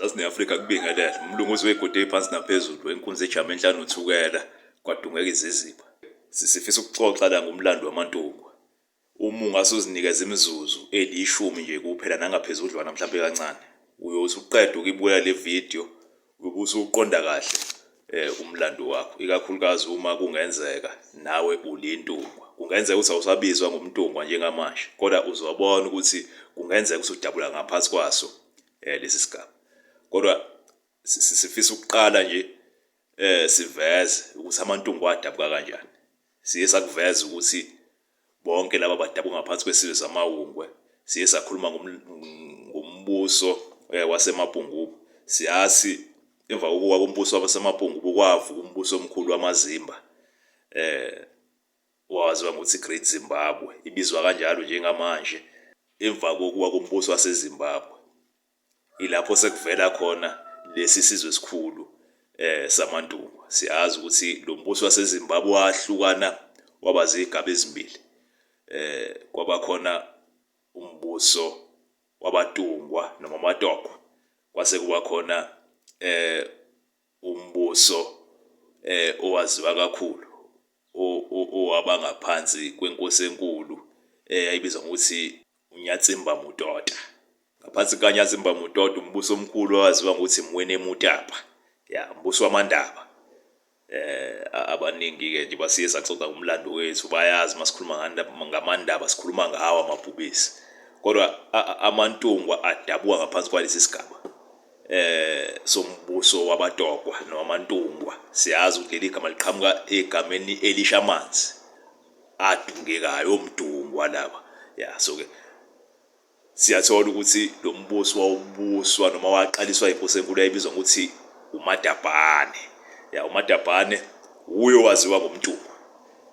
Zazi ne-Afrika kubingelele. Umlungu uze uyegode iphansi naphezulu enkunzi ejama enhlanu uthukela kwadungeka iziziba. Sisifisa ukuxoxa la ngomlando wamantungwa. Uma ungase uzinikeze imizuzu elishumi nje kuphela nangaphezudlwana mhlampe kancane. Uyothi uqeda ukuyibukela le video uyobe usuqonda kahle eh umlando wakho ikakhulukazi uma kungenzeka nawe ulintungwa. Kungenzeka ukuthi awusabizwa ngomntungwa njengamanje kodwa uzobona ukuthi kungenzeka ukuthi udabula ngaphansi kwaso eh lesi sigaba kodwa sifisa ukuqala nje eh siveze ukuthi amantungu adabuka kanjani siye sakuveza ukuthi bonke laba badabuka ngaphansi kwesizwe samawungwe siye sakhuluma ngombuso eh, wasemabhungubu siyazi emva kokuwa kombuso wasemabhungubu kwavuka umbuso omkhulu wamazimba eh Waziwa ngokuthi Great Zimbabwe, ibizwa kanjalo njengamanje emva kokuwa kombuso waseZimbabwe. Ilapho sekuvela khona lesi sizwe esikhulu eh samaNtungwa. Siyazi ukuthi lo mbuso waseZimbabwe wahlukana waba zigaba ezimbili. Eh kwaba khona umbuso wabatungwa noma amatokwa kwase kuba khona eh umbuso eh owaziwa kakhulu owaba ngaphansi kwenkosi enkulu eyayibizwa eh, ngokuthi uNyatsimba Mutota ngaphansi kukaNyatsimba Mutota umbuso omkhulu owaziwa ngokuthi Mwene Mutapa ya umbuso wamandaba eh abaningi ke nje basiye saxoxa umlando wethu bayazi masikhuluma ngamandaba sikhuluma ngawo amabhubesi kodwa amantungwa adabuka ngaphansi kwalesi sigaba eh sombuso wabatokwa nowamantungwa siyazi ukuthi leli gama liqhamuka egameni elisha amanzi adungekayo omdungwa laba ya so ke siyathola ukuthi lo mbuso wawubuswa noma waqaliswa inkosi enkulu yayibizwa ngokuthi uMadabhane ya uMadabhane wuyo waziwa ngomntungwa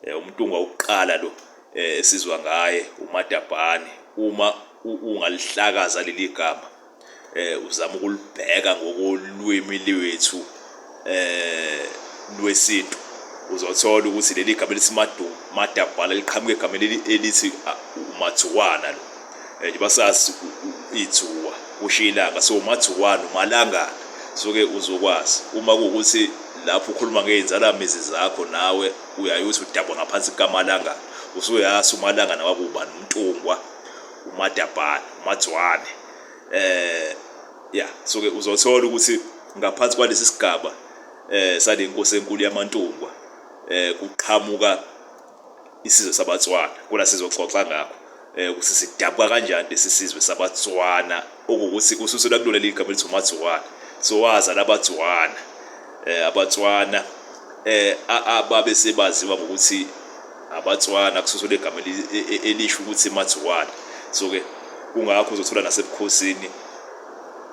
Eh, umntungwa wokuqala lo eh, esizwa ngaye umadabhane uma ungalihlakaza leli gama eh uzama ukulibheka ngokolwimi lwethu eh lwesintu uzothola ukuthi leli gama lesimadabhala liqhamuka egameni elithi umathuwana lo and basazi ithuwa kusho ilanga so umathuwani umalangana soke uzokwazi uma kuwukuthi lapho ukhuluma ngey'nzalamizi zakho nawe uyaye uthi udabwa ngaphansi kukamalangana usuyazi umalangana wakubani umntungwa umadabhana umadzwane eh ya soke uzothola ukuthi ngaphansi kwalesi sigaba eh sale nkosi enkulu yamantungwa eh kuqhamuka isizwe sabatswana kona sizoxoxa ngakho eh, ukuthi sidabuka kanjani lesi sizwe sabatswana okuwukuthi kususelwa kulo leli gama elithi umatswana so waza labatswana um eh, abatswana um ababe sebaziwa ngokuthi abatswana kususelwa egama e, e, elisho ukuthi matswana so-ke kungakho uzothola nasebukhosini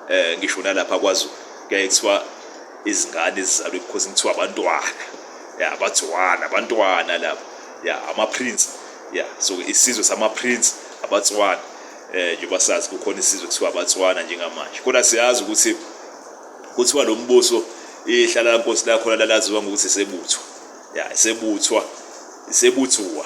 um ngisho nalapha kwazulu kuyaye kuthiwa izingane ezizalwa ebukhosini kuthiwa abantwana ya abatswana abantwana labo ya amaprince ya so isizwe samaprince abatswana eh njengoba sazi kukhona isizwe kuthiwa abatswana njengamanje kodwa siyazi ukuthi kuthiwa lo mbuso ihlala la nkosi lakhona lalaziwa ngokuthi sebuthwa ya sebuthwa sebuthuwa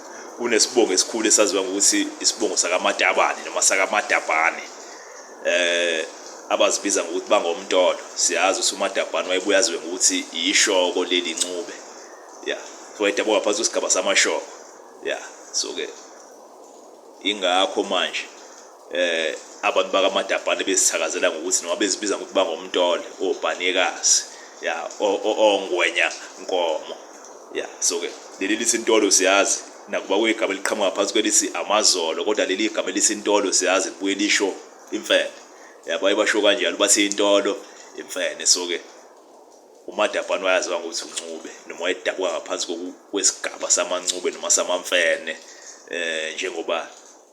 kunesibongo esikhulu esaziwa ngokuthi isibongo sakamatabane noma sakamatabane eh abazibiza ngokuthi bangomntolo siyazi ukuthi umatabane wayebuya aziwe ngokuthi yishoko leli ncube ya so wayedabwa ngaphansi kwesigaba samashoko ya so ke ingakho manje eh abantu bakamadabhane bezithakazela ngokuthi noma bezibiza ngokuthi bangomntole obhanekazi ya ongwenya nkomo ya so ke leli lithi intolo siyazi nakuba kuyigama eliqhamuka phansi kwelithi amazolo kodwa leli igama elithi intolo siyazi libuye lisho imfene yabo ayibasho kanjalo bathi intolo imfene so ke umadabhane wayaziwa ngokuthi uncube noma wayedabuka ngaphansi kwesigaba samancube noma samamfene eh njengoba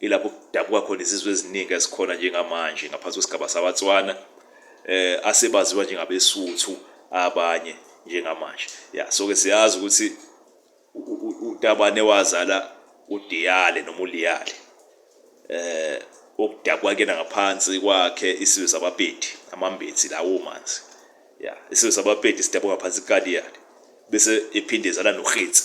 ilapho kudabuka khona izizwe eziningi ezikhona njengamanje ngaphansi kwesigaba sabatswana eh asebaziwa njengabesuthu abanye njengamanje ya so ke siyazi ukuthi utabane wazala udiyale noma uliyale eh okudabwa kena ngaphansi kwakhe isizwe sabapedi amambethi lawo manzi ya isizwe sabapedi sidabwa ngaphansi kaliyale bese ephinde ezala nohitsi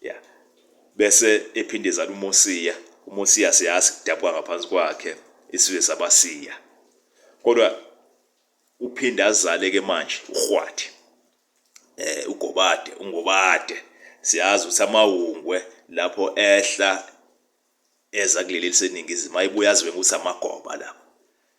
ya bese ephinde ezala uMosiya uMosiya siyazi kudabuka ngaphansi kwakhe isizwe sabasiya kodwa uphinde azale ke manje uRhwadi eh uGobade uNgobade siyazi ukuthi amawungwe lapho ehla eza kuleli liseningizimu ayibuya azwe ukuthi amagoba lapho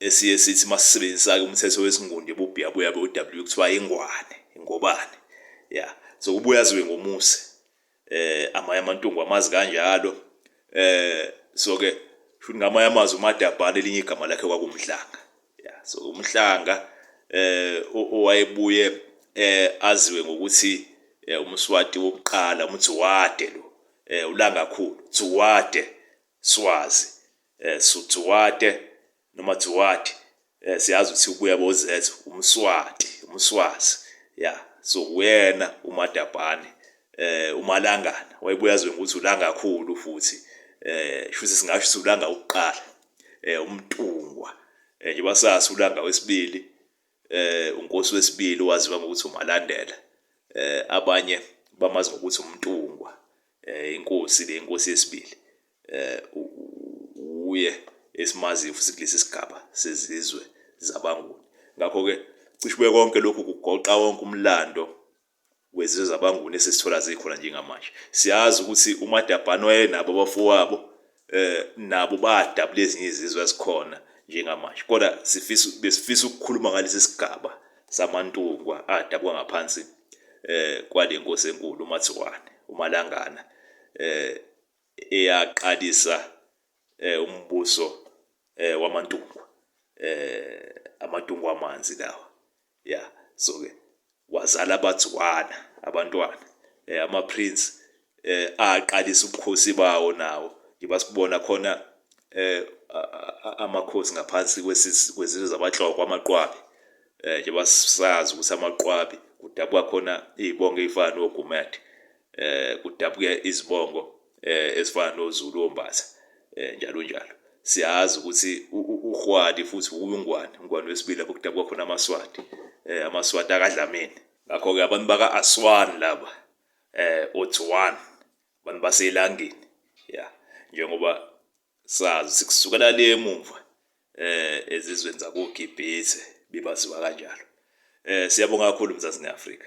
esiye sithi uma sisebenzisa-ke umthetho wesingundi ebubhiya buya-ke u-w kuthiwa ingwane ingobane ya so kubuya ziwe ngomusi eh amanye amantungu amazi kanjalo eh so ke futhi ngamanye amazwi umadabhana elinye igama lakhe kwakumhlanga ya so umhlanga eh owayebuye eh aziwe ngokuthi eh, umswati wokuqala umdzuwade lo eh ulangakhulu dzuwade swazi eh Sutsuwate noma Tsuwati eh siyazi ukuthi ubuya boZethu umswati umswazi ya so uyena uMadabhane eh umalangana wayebuya azwe ukuthi ulanga kakhulu futhi eh shuthi singasho ukuthi ulanga ukuqala eh umtungwa eh njengoba sazi ulanga wesibili eh unkosi wesibili waziwa ngokuthi uMalandela eh abanye bamazi ngokuthi uMntungwa eh inkosi le inkosi yesibili eh uye esimazi futhi kulesi sigaba sezizwe zabanguni ngakho ke cishe konke lokhu kugoqa wonke umlando wezizwe zabaNguni esizithola zikhona njengamanje. Siyazi ukuthi uMadabhane wayenabo abafowabo eh nabo badabula ezinye izizwe ezikhona njengamanje kodwa sifisa besifisa ukukhuluma ngalesi sigaba samantungwa adabuka ngaphansi eh kwale nkosi enkulu uMatsiwane uMalangana eh eyaqalisa eh umbuso eh wamantungwa eh amantungwa amanzi lawa Ya so ke wazala bathi one abantwana eh, ama prince eh, aqalisa ubukhosi bawo nawo njengoba sibona khona eh, amakhosi ngaphansi kwezizwe zabahloko amaqwabi eh, njengoba sazi ukuthi amaqwabi kudabuka khona izibongo ezifana noGumede eh kudabuke izibongo eh ezifana noZulu ombatha eh njalo njalo siyazi ukuthi uGwadi futhi uNgwane uNgwane wesibili lapho kudabuka khona amaSwati eh amaSwati akadlameni ngakho ke abantu baka Aswan laba eh Otswan abantu baselangeni ya njengoba sazi sikusukela le emuva eh ezizweni zakoGibhithe bebaziwa kanjalo eh siyabonga kakhulu mzansi neAfrika